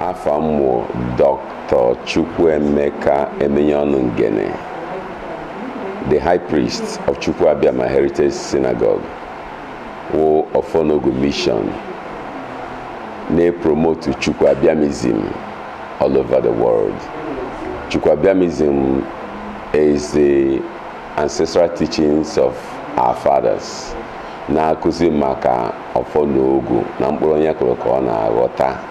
Afa m wụ Dr. Chukwuemeka Emenyeọnụ Ngene, the High Priest of Chukwu Abiama Heritage Synagogue, wụ Ọfọ na Ogu Mission na-epromotu Chukwu Abiamism all over the world. Chukwu Abiamism is the ancestral teachings of our fathers na-akụzi maka Ọfọ na Ogu na mkpụrụ onye kụrụ ka ọ na-aghọta.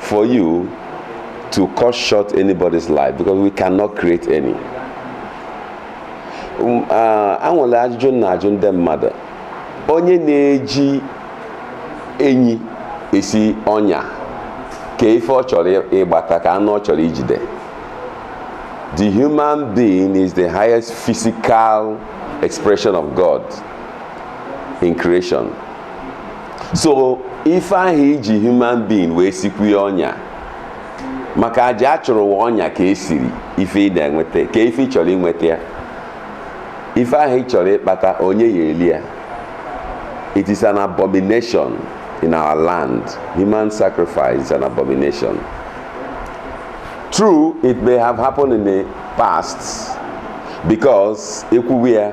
for you to cut short anybody's life because we cannot create any. Um, uh, e nwere ajụjụ m na-ajụ ndị mmadụ onye na-eji enyi esi ọnya ka ife ọ chọrọ ịgbata ka anụ ọ chọrọ ijide the human being is the highest physical expression of God in creation. so ife ahụ i ji human being wee sikwuye ọnya maka aja a chụrụ wụ ọnya ka e siri ife ị na-enweta ka ife ị chọrọ inweta ya ife ahụ ị chọrọ ịkpata onye ya-eli ya it is an abomination in our land human sacrifice is an abomination true it may have happened in the past because e kwuwe ya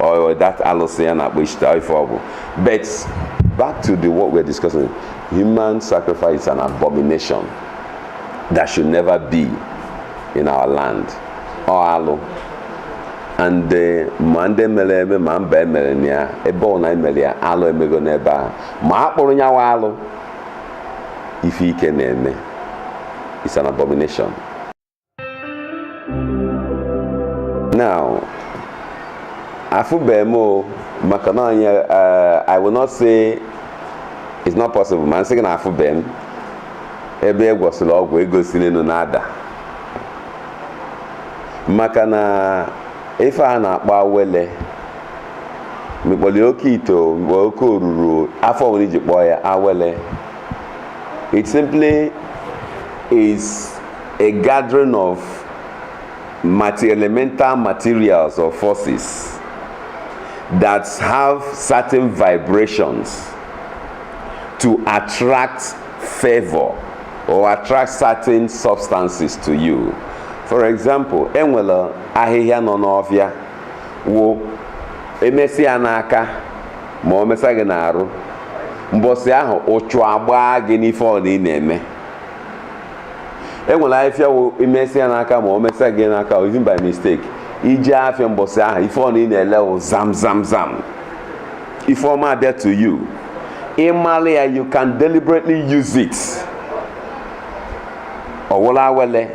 or that alụsị a na-akpọ Ishtar ife ọ bụ but back to the what we're discussing human sacrifice is an abomination that should never be in our land ọ alụ and eh, ma ndị mere eme ma mba e mere na ya ebe ọbụna e mere ya alụ emego n'ebe ahụ ma a kpụrọ nyawa alụ ife ike na-eme it's an abomination now afụbe m o maka na onye eh, i will not say it's not possible ma m sị gị na afụbe m ebe a gwọsịrị ọgwụ ego siri enu na-ada maka na ife a na-akpọ awele ma ị kpọ ya oke ite ma ị kpọ ya oke oruru afa ọbụna i ji kpọọ ya awele it simply is a gathering of elemental materials or forces that have certain vibrations to attract favor or attract certain substances to you. For example, e nwere ahịhịa nọ n'ọfịa wụ e mesa ya n'aka ma o mesa gị n'arụ mbọsị ahụ uchu agbaa gị n'ife ọbụna ị na-eme e nwere ahịfịa wụ i mesa ya n'aka ma o mesa gị n'aka even by mistake i je afịa mbọsị ahụ ife ọ na ị na-ele wụ zam zam zam ife ọma abịa to you ị malị ya you can deliberately use it ọ wụlụ awele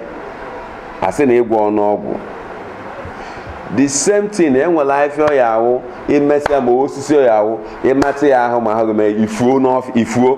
a sị na ị gwọlụ ọgwụ the same thing enwere ahịfịa ọ ya-awụ i mesa ya ma osisi ọ ya-awụ i metụ ya ahụ ma ahụ gị mee ifuo n'ọf ifuo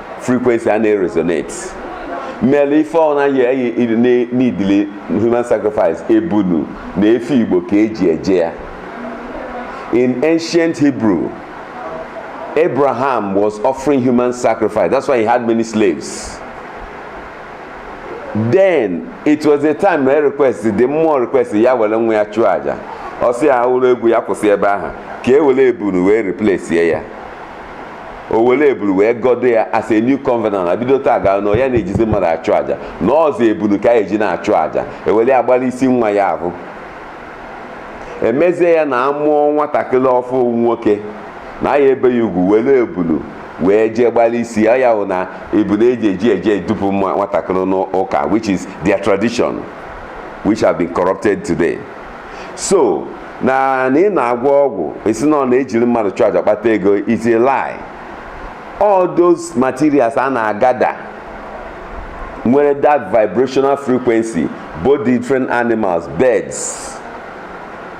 frequency a na-eresonate mere ife ọna ya-eneedili human sacrifice ebunu na efe igbo ka e ji eje ya in ancient hebrew abraham was offering human sacrifice that's why he had many slaves then it was a time na request ndị mmụọ request ya were nwa ya chụọ aja ọ sị ya wụrụ egwu ya kwụsị ebe ahụ ka e were ebunu wee replace ya o were ebunu wee gọdo ya as a new covenant na bido taa gaa na ya na-ejizi mmadụ achụ aja na ọzọ ebunu ka a ya-eji na-achụ aja e were ya gbara isi nwa ya ahụ e mezie ya na a mụọ nwatakịrị ọfụ nwoke na a ya-ebe ya ugwu were ebunu wee jee gbara isi ya ọ ya wụ na ebunu eji eji eje edupu nwa nwatakịrị n'ụka which is their tradition which have been corrupted today. so na na ị na-agwọ ọgwụ ị sị na ọ na-ejiri mmadụ chụọ aja kpata ego is a lie all those materials a na-agada nwere that vibrational frequency both different animals birds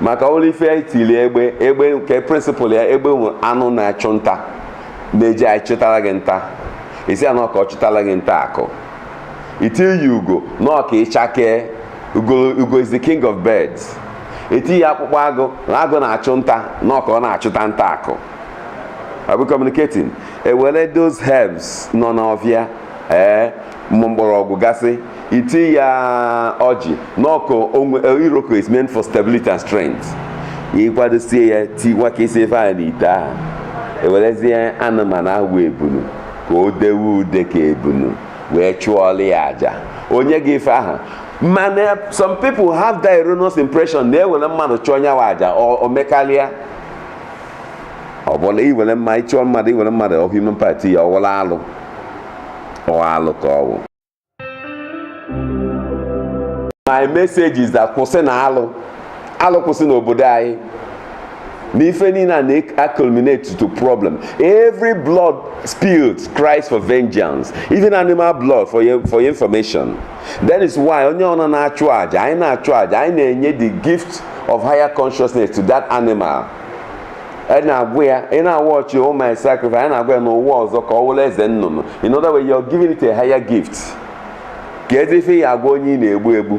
maka olee ife e tili egbe egbe nke principle ya egbe wụ anụ na-achụ nta na-eji achụtara gị nta ị sị ya na ọ ka ọ chụtara gị nta akụ i tinye ugo na ọ ka ị chakee Ugo, ugo is the king of birds. E tiye akpụkpọ agụ na agụ na-achụ nta na ọ ka ọ na-achụta nta akụ. Are we communicating? E were those herbs nọ n'ọfịa ee ụmụ mgbọrọgwụ gasị i tiye ọjị na ọ ka o nwe- iroko is meant for stability and strength. Ị kwadosie ya tiwakasị ife ahụ n'ite ahụ. E werezie anụmanụ ahụ bụ ebunu ka o dewe ude ka ebunu. wee chụọla ya aja o nye gị ife ahụ mana some people have the erroneous impression na e were mmadụ chụọ nyawa aja o mekarịa ọ bụla i were mma ịchụọ mmadụ i were mmadụ or human part ya ọ wụlụ alụ ọ alụ ka ọ wụ my message is that kwụsịnụ alụ alụ kwụsị n'obodo anyị na ife niile a na-culminate to problem every blood spilled cries for vengeance even animal blood for your, for your information that is why onye ọna na-achụ aja anyị na-achụ aja anyị na-enye the gift of higher consciousness to that animal ị na-agwa ya ị na-awa ọjị oh my sacrifice ị na-agwa ya n'ụwa ọzọ ka ọ wụrụ eze nnụnụ in other way you're giving it a higher gift kezi ife ị ya-agwa onye ị na-egbu egbu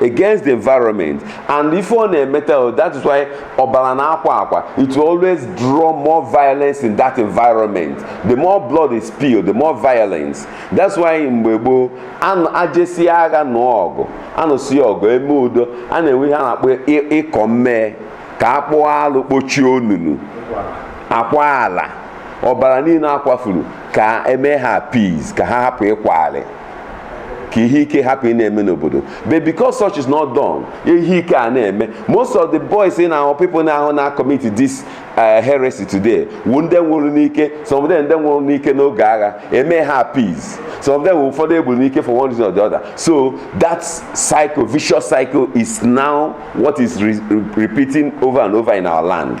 against the environment and ife ọ na-emeta oh, that is why ọbara na-akwa akwa it will always draw more violence in that environment the more blood is spilled the more violence that's why mgbe gboo ajesi agha na ọgụ anụsi ọgụ eme udo a na-enwe ihe a na-akpọ ịkọ mmee ka a kpụọ alụ kpochie onunu akwa ala ọbara niile akwafuru ka eme ha peace ka ha hapụ ịkwa alịlị ka ihe ike hapụ ịna-eme n'obodo but because such is not done ihe ike a na-eme most of the boys in our people na-ahụ na commit this uh, heresy today wụ ndị nwụrụ n'ike some of them ndị nwụrụ n'ike n'oge agha eme ha peace some of them wụ ụfọdụ egburu n'ike for one reason or the other so that cycle vicious cycle is now what is re repeating over and over in our land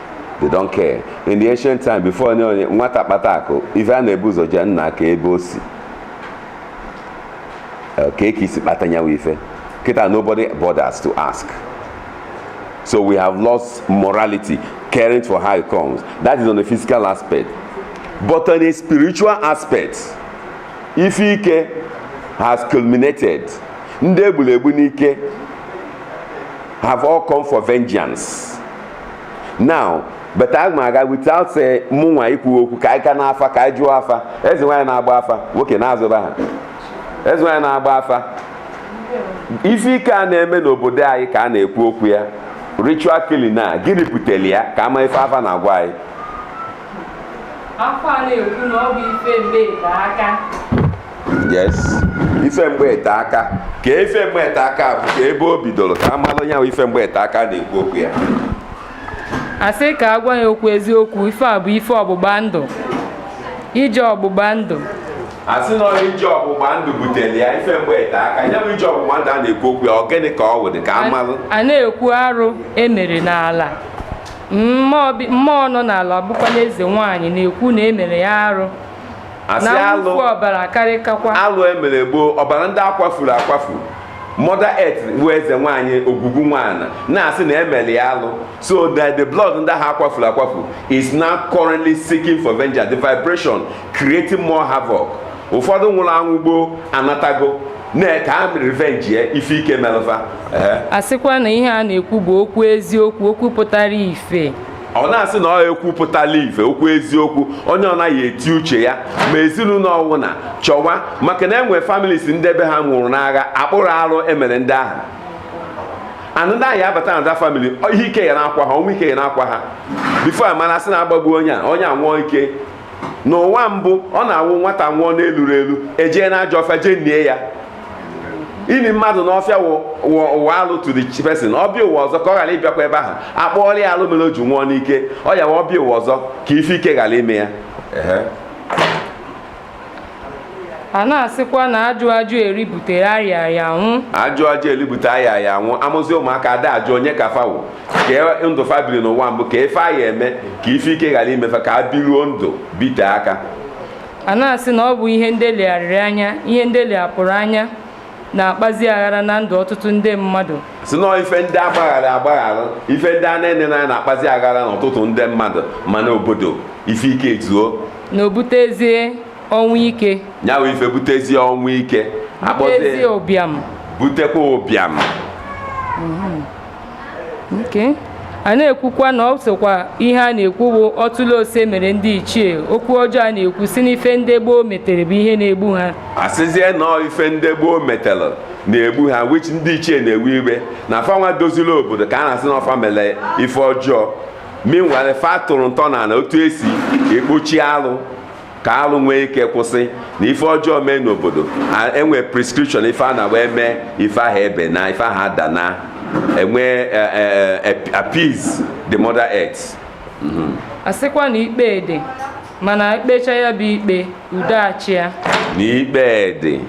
they don't care in the ancient time before onye onye nwata kpata akụ ife a na-ebu ụzọ ajụ nna a ka ebe o si Eh, ka eke i si kpata nyawa ife kịta nobody bothers to ask so we have lost morality caring for how it comes that is on the physical aspect but on a spiritual aspect ife ike has culminated ndị egburu egbu n'ike have all come for vengeance now but aga m aga without say mụ nwa ikwu okwu ka anyị ka n'afa ka anyị jụọ afa eze nwaanyị na-agba afa nwoke na-azụba ha eze nwaanyị na-agba afa ife ike a na-eme n'obodo anyị ka a na-ekwu okwu ya ritual killing a gịnị butere ya ka a ma ife afa na-agwa anyị afa na-ekwu na ọ bụ ife mgbe ete aka yes ife mgbe ete aka ka ife mgbe ete aka bụ ka ebe o bidoro ka a malụ ya ife mgbe ete aka na-ekwu okwu ya asị ka a gwa ya okwu eziokwu ife a bụ ife ọgbụgba ndụ ije ọgbụgba ndụ asị na ije ọgbụgba ndụ butere ya ife mgbe ete aka ya bụ ije ọgbụgba ndụ a na-ekwu okwu ya ọ gịnị ka ọ wụdị ka a malụ a na-ekwu arụ emere n'ala mmụọ nọ n'ala bụkwanụ eze nwaanyị na-ekwu na emere ya arụ Asị na alụ- mwụfu ọbara karịkakwa alụ emere gboo ọbara ndị akwafuru akwafu mother earth bụ eze nwaanyị ogwugwu nwaanyị na-asị na emere ya alụ so that the blood ndị ahụ akwafuru akwafu is now currently seeking for vengeance the vibration creating more havoc ụfọdụ nwụrụ anwụ gboo anatago na ka ha revenge ya ife ike melụ fa Ehe. asịkwa na ihe a na-ekwu bụ okwu eziokwu okwu pụtara ife ọ na-asị na ọ ekwupụtala ife okwu eziokwu onye ọ naghị eti uche ya ma ezinụlọ ọwụna chọwa maka na enwe families ndị be ha nwụrụ n'agha akpụrọ arụ emere ndị ahụ anụ ndị ahụ ya abata na the family ihe ike ya na-akwa ha ọnwụ ike ya na-akwa ha before amara sị na-agbagbu onye a onye a nwụọ ike n'ụwa mbụ ọ na-awụ nwata nwụọ n'eluro elu ejee na ajọ ọfịa jee nie ya ini mmadụ n'ọfịa wụ alụ to the person ọ bịa ụwa ọzọ ka ọ ghara ịbịakwa ebe ahụ akpụọla ya alụ mere o ji nwụọ n'ike ọ ya wa ọ bịa ụwa ọzọ ka ife ike ghara ime ya a na-asịkwa na ajụ ajụ eri butere arịa arịa anwụ ajụ ajụ eri bute arịa arịa anwụ amụzi ụmụaka ada ajụ onye ka fa wụ ka e, ndụ fa biri n'ụwa mbụ ka ife a ya-eme ka ife ike ghara ime fa ka a biruo ndụ bite aka a na-asị na ọ bụ ihe ndị e legharịrị anya ihe ndị e leghapụrụ anya na-akpazi aghara na ndụ ọtụtụ ndị mmadụ sị na ife ndị agbaghara agbaghara ife ndị a na-enerọ anya na-akpazi aghara n'ọtụtụ ndị mmadụ ma n'obodo ife ike ezuo na o butezie ọnwụ ike nya wụ ife butezie ọnwụ ike akpọzie butezie ụbịam butekwa ụbịam a na-ekwukwa na ọ sokwa ihe a na-ekwu bụ ọtụle ose mere ndị ichie okwu ọjọọ a na-ekwu sị n'ife ndị gboo metere bụ ihe na-egbu ha asịzie na ife ndị gboo metere na-egbu ha which ndị ichie na-ewe iwe na fanwa doziri obodo ka a na-asị na ọ fa mere ife ọjọọ meanwhile fa tọrọ ntọ ana otu esi ekpochi alụ ka alụ nwee ike kwụsị na ife ọjọọ mee n'obodo enwe prescription ife a na wee mee ife ahụ ebe na ife ahụ ada na enwe e, e, e, appease the mother earth mhm. a sịkwa na ikpe dị mana ekpecha ya bụ ikpe udo achịa na ikpe dị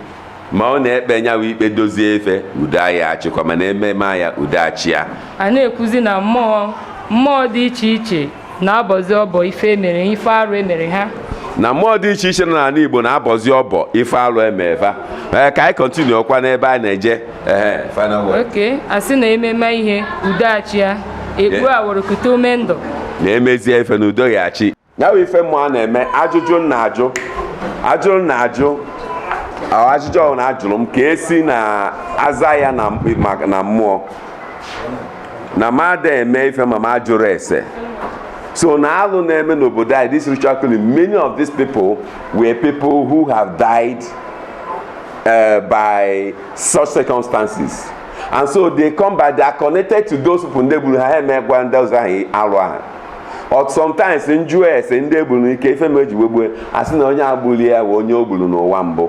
ma ọ na-ekpe nya wụ ikpe dozie ife udo ya achịkwa mana ememe ya udo achịa a na-ekwuzi na mmụọ mmụọ dị iche iche na-abọzi ọbọ ife emere ife arụ emere ha na mmụọ dị iche iche nọ n'ala Igbo na-abọzi ọbọ ife alụ eme fa ee ka anyị continue ọkwa n'ebe a na-eje ee final word okay asị na ememe ihe udo achịa egbu awụrụkụta ume ndụ na-emezie ife na udo ya achị ya bụ ife mmụwa na-eme ajụjụ na ajụ ajụrụ na ajụ ajụjụ ọwụna ajụrụ m ka esi na aza ya na mmụọ na m ada eme ife ma m ajụrụ ese so na alụ na-eme n'obodo anyị this ritual killing many of these people were people who have died uh, by such circumstances and so they come back they are connected to those people ndị gburu ha ha emegwa ndị ọzọ ahụ alụ ahụ But sometimes m jụọ ese ndị e gburu n'ike ife mere e ji wee gbue a sị na onye a gburu ya bụ onye o gburu n'ụwa mbụ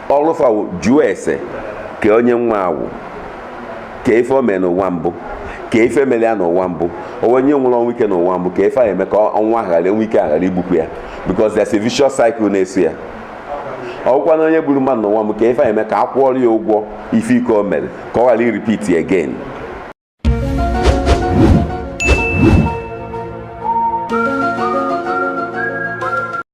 ọlụ afa wụ ịjụ ese kee onye nwa a wụ kee ife o mee n'ụwa mbụ kee ife mere ya n'ụwa mbụ ọ wụ onye nwụrụ ọnwụ ike n'ụwa mbụ kee ife a eme ka nwa ahụ ghara enwe ike a ghara igbukwu ya because there's a vicious cycle na-eso ya ọ wụkwa na onye gburu mmadụ n'ụwa mbụ kee ife a eme ka a kwụọrọ ya ụgwọ ife ike o mere ka ọ ghara irepeat again